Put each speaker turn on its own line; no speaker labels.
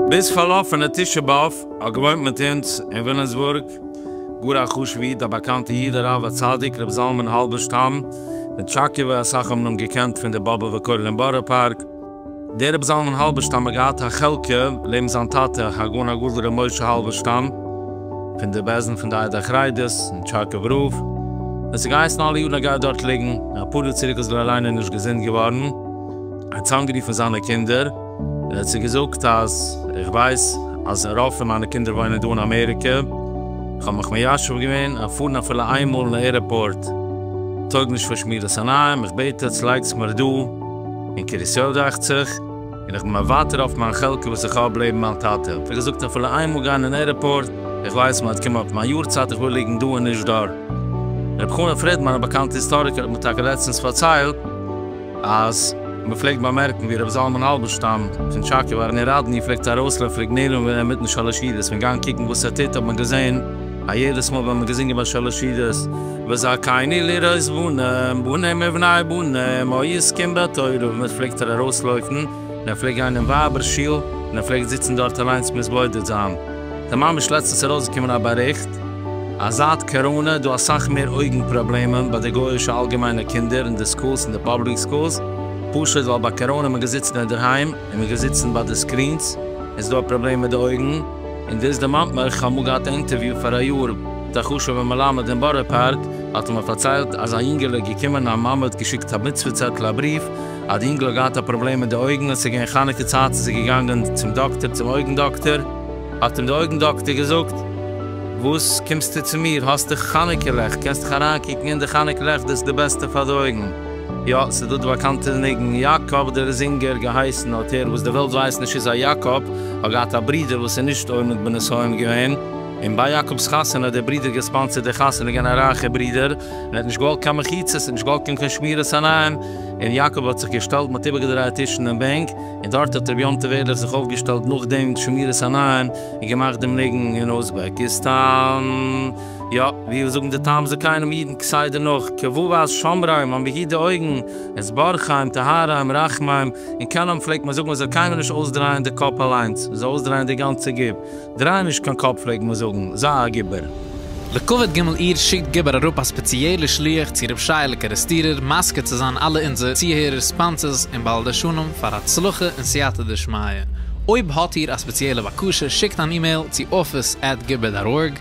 ביז פארלאפענע תשעה באב האט געוואוינט מיט אונז אין וויליאמסבורג גאר א חשובע איד א באקאנטע איד הרב הצדיק ר' זלמן האלבערשטאם מטשאקעווע אסאך האבן אים געקענט פון די באבובע כולל אין בארא פארק, דער רבי זלמן האלבערשטאם האט געהאט א חלקה לעבן זיין טאטע הגאון הגדול רבי משה האלבערשטאם פון די בעסטן פון די עדה החרדית אין טשארקוב רב, עס האט געהייסן אלע יארן ער גייט דארט ליגן, אפאר יאר צוריק איז ער אליין נישט געזונט געווארן, ער האט צוזאמגערופן זיינע קינדער און האט זיי געזאגט אז איך ווייס אז רוב פון מיינע קינדער וואוינען דא אין אמעריקע, איך האב מיך מיישב געווען אז פארן אפילו איינמאל אין עירעפארט טויג נישט פאר שמירת עיניים, איך בעט עטס לייגטס מיר דא. און קרית-יואל דאכט זיך, און איך בין מוותר אויף מיין חלקה וואס איך האב לעבן מיין טאטע, האט ער געזאגט איך וויל איינמאל גיין אין ערעפארט, איך ווייס מ'האט קומען אויף מיין יארצייט איך וויל ליגן דא און נישט דארט. ר' חנא פרידמאן א באקאנטע היסטאריקער האט מיר טאקע לעצטענס פארציילט אז מ'פלעגט באמערקן ווי ר' זלמן האלבערשטאם פון טשאקעווא אין ראדני פלעגט ארויסלעפעריג נעלם ווערן אינמיטן שלש ירידות פון גיין קוקן וואס ער טוט האט מען געזען א יעדעס מאל ווען מען געזינגען ביי שלש סעודות וזכני לראות בנים בנים ובני בנים העוסקים בתורה ווען ער פלעגט ער ארויסלויפן און ער פלעגט גיין אין ווייבער שול און ער פלעגט זיצן דארט אליינס מתבודד זיין ס'איז ממש לעצטנס ארויסגעקומען א באריכט אז זייט קאראנע איז דא אסאך מער אויגן פראבלעמען ביי די גויאישע אלגעמיינע קינדער אין די סקולס אין די פאבליק סקולס פשוט ווייל ביי קאראנע איז מען געזיצן אינדערהיים און מען געזיצן ביי די סקרינס איז דא א פראבלעם מיט די אויגן. און דאס דערמאנט מיר, איך האב אמאל געהאט א אינטערוויו פאראיאר מיט א חשוב'ע מלמד אין בארא פארק, האט ער מיר פארציילט אז א יונגעלע איז געקומען א מאמע האט געשיקט א מצוה צעטל א בריוו אז די יונגעלע האט געהאט א פראבלעם מיט די אויגן עס איז געווען חנוכה צייט איז ער געגאנגען צום דאקטער צום אויגן דאקטער האט אים די אויגן דאקטער געזאגט וואס קומסטו צו מיר האסט דיך חנוכה לעכט קענסט דיך אריינקוקן אין די חנוכה לעכט דאס איז די בעסטע פאר די אויגן. יא, ס'איז דא די באקאנטע ניגון, יאקאב דער זינגער געהייסן האט ער, וואס די וועלט ווייסט נישט איז א יאקאב האט געהאט א ברודער וואס איז נישט עומד בנסיון געווען, און ביי יאקאב'ס חתונה האט דער ברודער געספאנסערט די חתונה געווען א רייכע ברודער, און ער האט נישט געוואלט קיין מחיצות און נישט געוואלט קיין קיין שמירת עיניים, און יאקאב האט זיך געשטעלט מ'האט איבערגעדרייעט טישן און בענק, און דארט האט ר' יום טוב ערליך זיך אויפגעשטעלט נאכדעם שמירת עיניים און געמאכט דעם ניגון אין אוזבעקיסטאן. יא, ווי זאגן די תם זקנים אידן כסדר נאך כ ו ווייס שומריים האבן ביהודה אויגן, עס בארכיים, טהריים, רחמיים, און קנאים פלעגט מען זאגן מען זאל קיינמאל נישט אויסדרייען די קאפ אליינס, מען זאל אויסדרייען די גאנצע גוף, דריי נישט קיין קאפ פלעגט מען זאגן, זיי א גיבור. לכבוד ג' אייר שיקט גיבור אראפ א ספעציעלער שליח צו ר' שייעלע קערעסטירער מזכה צו זיין אלע אונזער צוהערער ספאנסערס און בעל דרשנים פאר הצלחה און סייעתא דשמיא. אויב האט איר א ספעציעלע בקשה שיקט אן אימעיל צו office at gibber dot org